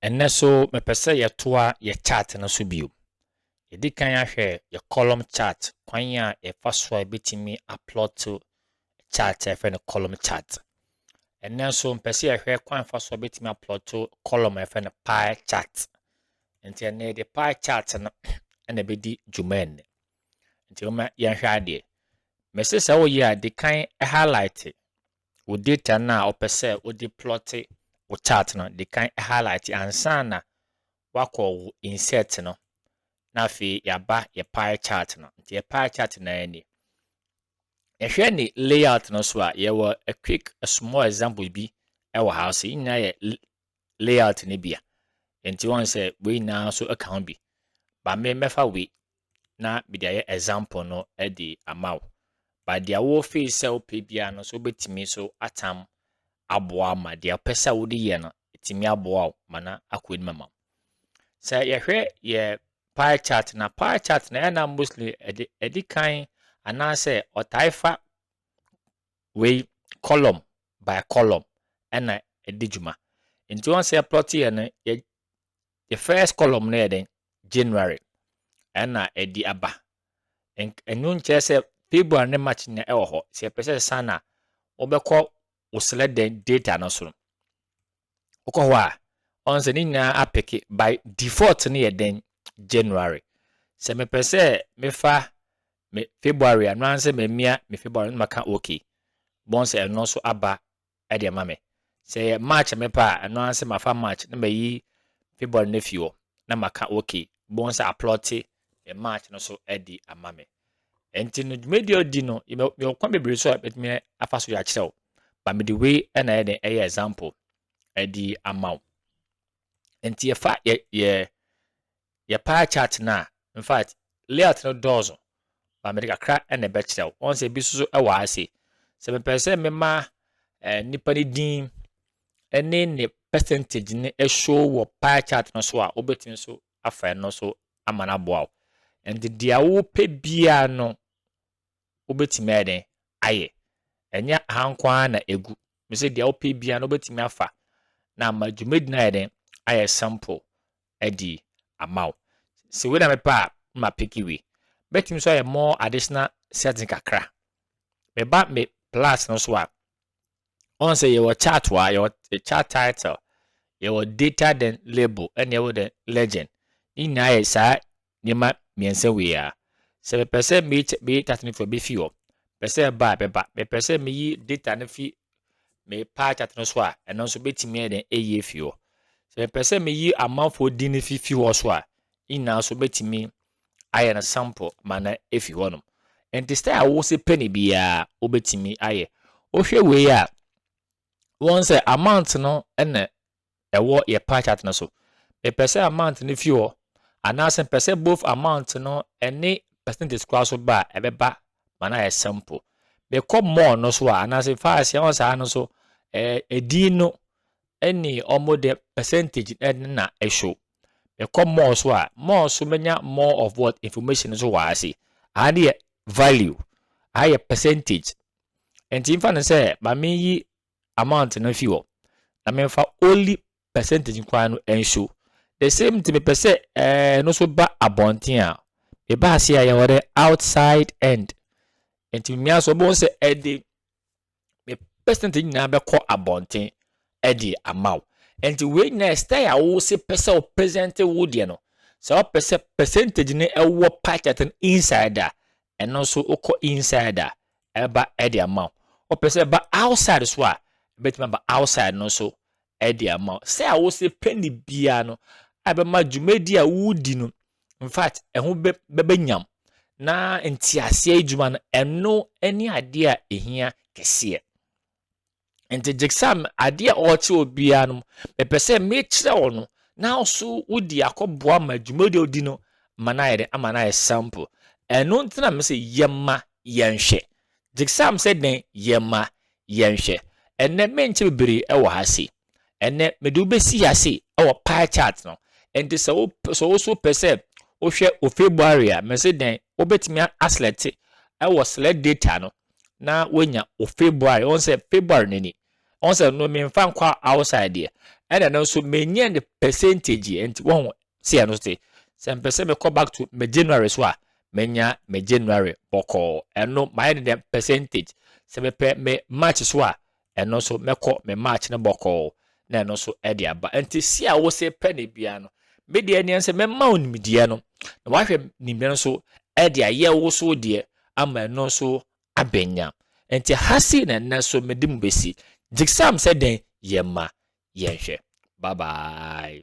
Ɛnnɛ so mepɛ sɛ yɛtoa yɛ chart no so bio. Yɛdi kan ahwɛ yɛ column chart kwan a yɛfa so a yɛbɛtumi aplot chart a yɛfrɛ no column chart. Ɛnnɛ nso mpɛ sɛ yɛhwɛ kwan fa so a yɛbɛtumi aplot column a yɛfrɛ no pie chart. Nti ɛnnɛ yɛde pie chart no na ɛbɛdi dwuma ɛnnɛ. Nti momma yɛnhwɛ adeɛ. Mese sɛ woyɛ a, di kan highlighte wo data no a wopɛ sɛ wode plɔte wo chart no. Di kan highlighte ansa na wakɔ wo insert no. Na afei yɛaba yɛ pie chart no. Nti yɛ pie chart no ara ni. Yɛhwɛ ne layout no so a, yɛwɔ a quick a small example bi wɔ ha. So yɛ nyinaa yɛ layout no bi a, nti wɔn sɛ wei nyinaa nso ka ho bi. Ba me mɛfa wei na mede ayɛ example no de ama wo. Ba deɛ wɔfei sɛ wopɛ biara no so wobɛtumi so atam aboa ma deɛ wopɛ sɛ wode yɛ no ɛtumi aboa wo ma na akɔ anim ama wo. Sɛ yɛhwɛ yɛ pie chart na pie chart na ɛna mostly ɛde ɛde kan anaasɛ ɔtae fa Wei column by column ɛna ɛdi dwuma. Nti wɔn sɛ plot yɛ no yɛ the first column no yɛ den January ɛna ɛdi aba. Ɛnu nkyerɛ sɛ February ne March nyinaa ɛwɔ hɔ. Sɛ ɛpɛ sɛ san a wobɛkɔ wo srɛ dɛn data no so. wokɔ hɔ a ɔn sɛ ne nyinaa apeke by default no yɛ dɛn January sɛ mepɛ sɛ mefa me February a no ansɛ mamia me February no maka okay bɔn sɛ ɛno nso aba ɛde ama me sɛ yɛ March a mepɛ a ɛno ansɛ mafa March na mayi February no afi hɔ na maka okay bɔn sɛ aplɔte deɛ March no so adi ama me. Nti no dwumadie ɔdi no yɛwɔ kwan bebree so a bɛtumi afa so yɛakyerɛ wo ba mede wei na ɛyɛ den ɛyɛ example adi ama wo nti yɛfa yɛ yɛ yɛ pie chart no a in fact layout no dɔɔso ba mede kakra na ɛbɛkyerɛ wo wɔn sɛ ebi soso ɛwɔ ha se sɛ mepɛ sɛ mema ɛɛ nipa ne din ɛne ne percentage ne ɛhyɛ wɔ pie chart no so a wobɛtumi so afa ɛno so ama no aboa wo. Ɛnti deɛ wopɛ biara no wobɛtumi ayɛ dɛn ayɛ. Ɛnyɛ ha nko ara na ɛgu. Mesɛ deɛ wopɛ biara no wobɛtumi afa na ama dwumadi no ayɛ dɛn ayɛ simple adi ama wo. Sɛ wei na mepɛ a na mapeke wei. Bɛtumi nso ayɛ more additional setting kakra. Meba me plus no so a, Ɔn sɛ yɛwɔ chart wɔ ha, yɛwɔ chart title, yɛwɔ data then label, ɛna yɛwɔ then legend. Ne nyinaa yɛ saa nneɛma mmiɛnsa wei a. Sɛ mepɛ sɛ meyi meyi chart no fi hɔ, mefi hɔ. Mepɛ sɛ ɛba a, bɛba. Mepɛ sɛ meyi data no fi me pie chart no so a, ɛno nso bɛtumi ayɛ dɛn ayi afi hɔ. Sɛ mepɛ sɛ meyi amanfoɔ din no fi fi hɔ so a, ne nyinaa nso bɛtumi ayɛ no sample ma no afi hɔnom. Nti style a wo se pɛ ne biara wobɛtumi ayɛ. Wohwɛ wei a, wɔn sɛ amount no na ɛwɔ yɛ pie chart no so. Mepɛ sɛ amount no fi hɔ anaasɛ mepɛ sɛ both amount no ɛne percentage koraa so ba a ɛbɛba ma no ayɛ sample. Mekɔ more no so a anaasɛ fa aseɛ wɔ saa no so ɛdin no ɛne wɔn de percentage ɛne na ɛhyew. mekɔ more so a more so mɛnya more of what information nso wɔ ase aha ne yɛ value aha yɛ percentage nti mfa no sɛ ma meyi amount no fi hɔ na memfa only percentage nkoa no nso the same nti mepɛ sɛ ɛɛ no so ba abɔnten a meba ase a yɛwɔ dɛ outside end nti mmea so wɔn sɛ ɛde me percentage nyinaa bɛkɔ abɔnten ɛde ama wo nti wei nyinaa style a wose pɛ sɛ wo present wo deɛ no sɛ wopɛ sɛ percentage no ɛwɔ pie chart no inside a ɛno nso wokɔ inside a ɛba ɛde ama wo wopɛ sɛ ɛba outside so a ɛbɛtumi aba outside no so de ama wo. Sɛ a wose penny biara no ɛbɛma dwumadi a wodi no infact ɛho bɛ bɛbɛnyam na nteaseɛ adwuma no ɛno ne adeɛ a ɛhia kɛseɛ. Nti Gyekesam adeɛ a ɔrekyerɛ obiara no mepɛ sɛ mekyerɛ wo no na wo so wode akɔboa ma dwumadi a wodi no ma no ayɛ dɛ ama no ayɛ simple. Ɛno nti na mese yɛma yɛnhwɛ Gypsam sɛ dɛn yɛ ma yɛnhwɛ. Ɛnnɛ merenkyɛ bebree wɔ ha sei. Ɛnnɛ mede wo bɛsi ha sei wɔ pie chart no. Enti sɛ wo sɛ wo so pɛ sɛ wohwɛ wo February a, mese dɛn, wobɛtumi aselɛte wɔ select data no na woanya wo February. Wohu sɛ February no ni. Wohu sɛ no memfa nkɔ outside deɛ. Ɛna no nso menyɛ no percentage. Enti wohu Sɛ yɛ no te sɛ mpɛ sɛ mekɔ back to me January so a menya me January bɔkɔɔ ɛno mayɛ ne dɛm percentage sɛ mepɛ me March so a ɛno nso mɛkɔ me March no bɔkɔɔ na ɛno nso ɛde aba nti si a wose pɛ ne bia no me deɛ neɛ sɛ mɛma wo nimdeɛ no na wahwɛ nimdeɛ no nso ɛde ayɛ wo so deɛ ama ɛno nso abɛnya nti ha si na ɛnɛ so mede mu bɛsi jigsam sɛ dɛn yɛ ma yɛnhwɛ bye bye